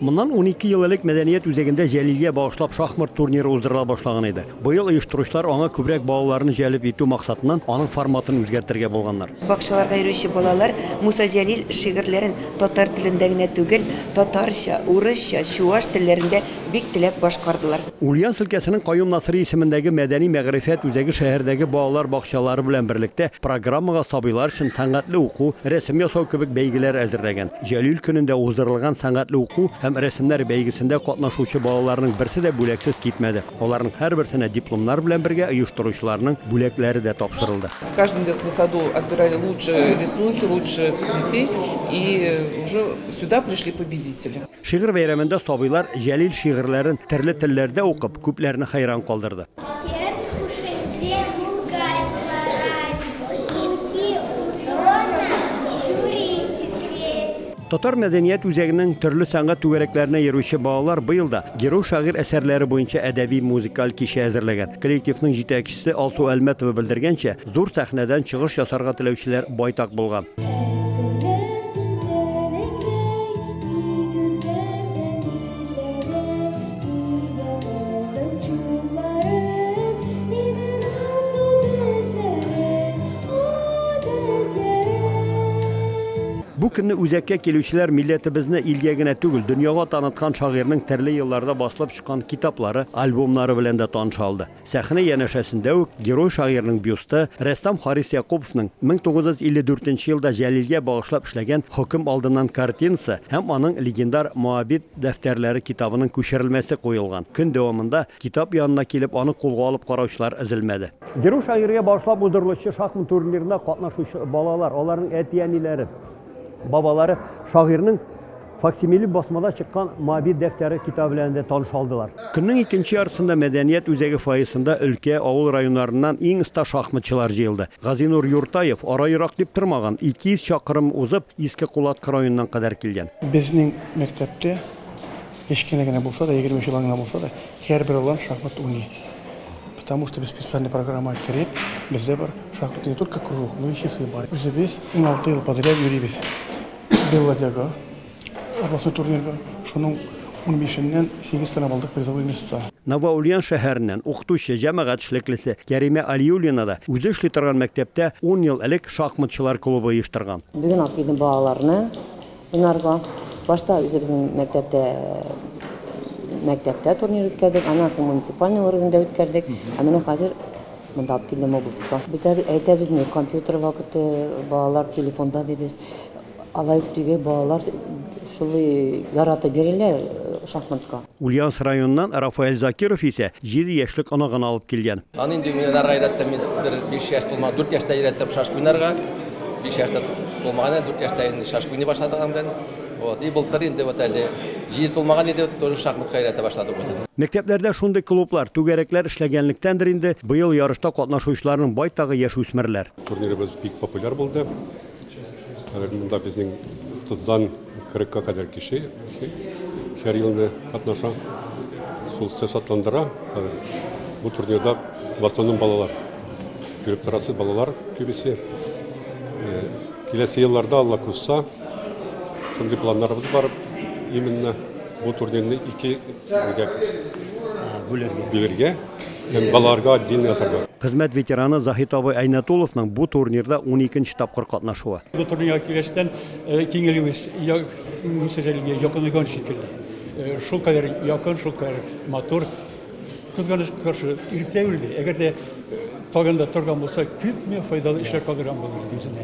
Моннан унике ел элек мәдәният үзәгендә Җәлилгә багышлап шахмат турниры уздырыла башлаган иде. Быел оештыручылар аңа күбрәк балаларны җәлеп итү максатыннан аның форматын үзгәртергә булганнар. Бакчаларга йөрүче балалар Муса Җәлил шигырьләрен татар телендә генә түгел, татарча, урысча, чуаш телләрендә бик теләп башкардылар. Ульяновск өлкәсенең Каюм Насыйри исемендәге мәдәни-мәгърифәт үзәге шәһәрдәге балалар бакчалары белән берлектә программага сабыйлар өчен сәнгатьле уку, рәсем ясау кебек бәйгеләр әзерләгән. Җәлил көнендә уздырылган сәнгатьле уку һәм рәсемнәр бәйгесендә катнашучы балаларның берсе дә бүләксез китмәде. Аларның һәрберсенә дипломнар белән бергә оештыручыларның бүләкләре дә тапшырылды. В каждом детском саду отбирали лучшие рисунки, лучших детей и уже сюда пришли победители. Шигырь бәйрәмендә сабыйлар Җәлил шигырьләрен төрле телләрдә укып, күпләрне хәйран калдырды. Татар мәдәният үзәгенең төрле сәнгать түгәрәкләренә йөрүче балалар быел да Герой шагыйрь әсәрләре буенча әдәби-музыкаль кичә әзерләгән. Коллективның җитәкчесе Алсу Әлмәтова белдергәнчә, Зур сәхнәдән чыгыш ясарга теләүчеләр байтак булган. Бу көнне үзәккә килүчеләр милләтебезне илгә генә түгел, дөньяга таныткан шагыйрьнең төрле елларда басылып чыккан китаплары, альбомнары белән дә таныша алды. Сәхнә янәшәсендә үк герой-шагыйрьнең бюсты, рәссам Харис Якуповның 1954 нче елда Җәлилгә багышлап эшләгән Хөкем алдыннан картинасы һәм аның легендар Моабит дәфтәрләре китабының күчерелмәсе куелган. Көн дәвамында китап янына килеп, аны кулга алып караучылар өзелмәде. Герой-шагыйрьгә багышлап уздырылучы шахмат турнирына катнашучы балалар, аларның әти-әниләре, бабалары шагыйрьнең Факсимиле басмада чыккан Моабит дәфтәре китабы белән дә таныша алдылар. Көннең икенче яртысында мәдәният үзәге фойесында өлкә, авыл районнарыннан иң оста шахматчылар җыелды. Газинур Юртаев ара ерак дип тормаган, 200 чакрым узып, Иске Кулаткы районыннан кадәр килгән. Безнең мәктәптә кечкенә генә булса да, егерме чолан гына булса да, һәрбер балам шахмат уйный. Потому что без специальный программага кереп, бездә бар шахматный не только кружок, но и часы бар. Үзебез уналты ел подряд йөрибез. Белладягы областной турнирда шуның унбишеннән сигез тәнәп алдык призовой места. Новоульян шәһәреннән укытучы, җәмәгать эшлеклесе Кәримә Алиуллина да үзе эшли торган мәктәптә ун ел элек шахматчылар клубы оештырган. Бүген алып килдем балаларны уйнарга. Башта үзебезнең мәктәптә мәктәптә турнир үткәрдек, аннан соң муниципальный уровеньда үткәрдек, ә менә хәзер Монда алып килдем обласка. Без әйтәбез ни, компьютер вакыты, балалар телефонда дибез. Алай ук түгел, балалар шулай яратып йөриләр шахматка. Ульяновск районыннан Рафаэль Закиров исә җиде яшьлек оныгын алып килгән. Аны инде уйнарга өйрәттем мин, бер биш яшь тулмаган, дүрт яшьтә өйрәттем шашка уйнарга. Биш яшь тә тулмаган әле, дүрт яшьтә инде шашка уйный башлады аның белән. Вот, и былтыр инде вот әле җиде тулмаган иде, тоже шахматка өйрәтә башладык үзен. Мәктәпләрдә шундый клублар, түгәрәкләр эшләгәнлектәндер инде, быел ярышта катнашучыларның байтагы яшүсмерләр. Турнирыбыз бик популяр булды. Хәзер монда безнең 30-дан 40-ка кадәр кеше һәр елны катнаша. Шул сез шатландыра. Бу турнирда в основном балалар. Күреп торасы балалар күбесе. Киләсе елларда Алла кушса, Шундый планнарыбыз бар именно бу турнирны ике бүләргә һәм балаларга отдельно ясарга. Хезмәт ветераны Заһит абый Әйнәтулловның бу турнирда уникенче тапкыр катнашуы. Бу турнирга килгәчтән киңәюез мөсәҗәлегә якынайган шикелле. Шул кадәр якын, шул кадәр матур. Кызганычка каршы, иртә үлде. Әгәр дә тагын да торган булса, күпме файдалы эшләр калдырган булыр үзенә.